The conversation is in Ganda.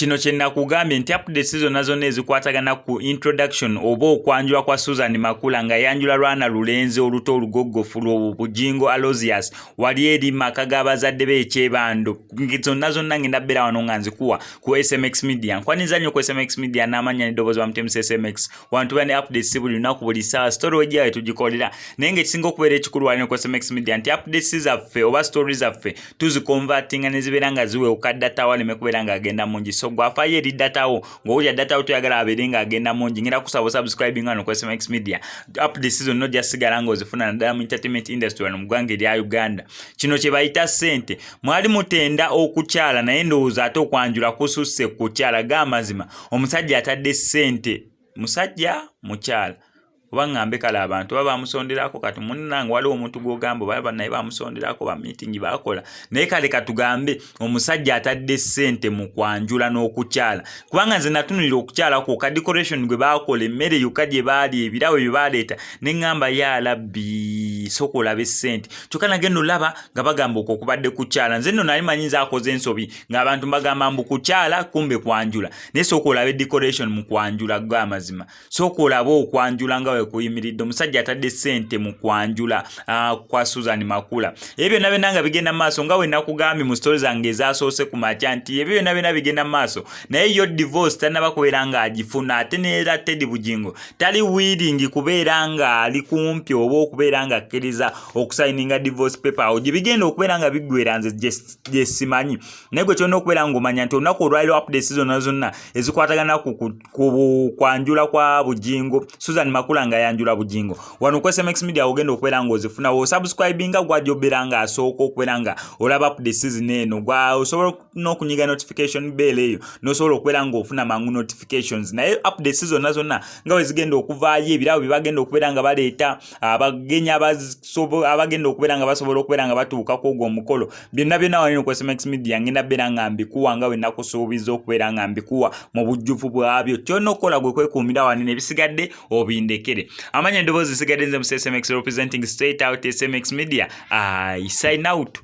kino kye nakugambye nti updates zonna zonna ezikwatagana ku introduction oba okwanjula kwa susan makula nga yanjula lwana lulenzi oluto olugoggofu lwobu bujingo alosius wali eri maka g'abazadde be ekyebando zonna zonna ngenda bbeera wano nga nzikuwa ku smx media nkwaniza nnyo ku smx media n'amannya n'eddoboozi bamutemu smx wantu bane updates buli lunaku buli saa story wejjayo tugikolera naye nga ekisinga okubeera ekikulu walina ku sms media nti updates zaffe oba story zaffe tuzikonvatinga ne zibeera nga ziwewuka data wo aleme kubeera nga agenda mungi so gwafayo eri data wo ng'owulira data wo toyagala abeere nga agenda mungi ngera kusaba osubscribing wano ku sms media updates zonna ojja sigala nga ozifuna naddala mu entertainment industry wano mu ggwanga erya uganda kino kye bayita ssente mwali mutenda okukyala naye ndowooza ate okwanjula kususse kukyala ga amazima omusajja atadde sente musajja mukyala oba ŋambe kale abantu oba bamusonderako kati munange waliwo omuntu gwogamba oba banaye bamusonderako bamitingi bakola naye kale katugambe omusajja atadde sente mu kwanjula n'okukyala kubanga nze natunulira okukyala kwo ka decoration gwe bakola emmere yoka gye baali ebirawo bye baleeta ne ŋamba ye alabbi soka olabe sente kyokka nagenda olaba nga bagamba okwo okubadde kukyala nze nno nali manyi nze akoze ensobi ng'abantu mbagamba mbu kukyala kumbe kwanjula naye sooka olabe decoration mu kwanjula go amazima sooka olabe okwanjula nga wekuyimiridde omusajja atadde ssente mu kwanjula uh, kwa susan makula ebyo byonna byonna nga bigenda maaso nga wenakugambye mu stori zange ezasoose ku makya nti ebyo byonna byonna bigenda maaso naye yo divorce tanaba kubeera ng'agifuna ate neera tedi bugingo tali wiiringi kubeera ng'ali kumpi oba okubeera ng'akkiriza okusayininga divorce paper awo gye bigenda okubeera nga biggwera nze just gyesimanyi naye gwe kyolina okubeera ngaomanya nti olunaku olwaliro updates zonna zonna ezikwatagana ku kwanjula kwa bujingo susan makula nga yanjula bujingo wano ku smx media ogenda okubeera nga ozifuna wosubscribinga gwaja obeera nga asooka okubeera nga olaba updates zino eno gwa osobola n'okunyiga notification bell eyo nosobola okubeera nga ofuna mangu notifications naye updates zonna zonna nga wezigenda okuvaayo ebirabo byebagenda okubeera nga baleeta abagenyi abagenda okubeera nga basobola okubeera nga batuuka ku ogwo omukolo byonna byonna wanino ku smax media ngenda beera nga mbikuwa nga wenakusuubiza okubeera nga mbikuwa mu bujjuvu bwabyo kyona okukola gwe kwekuumira wanino ebisigadde obindekere amanya endoboozi zisigadde nze mu smax representing straight out smax media i sign out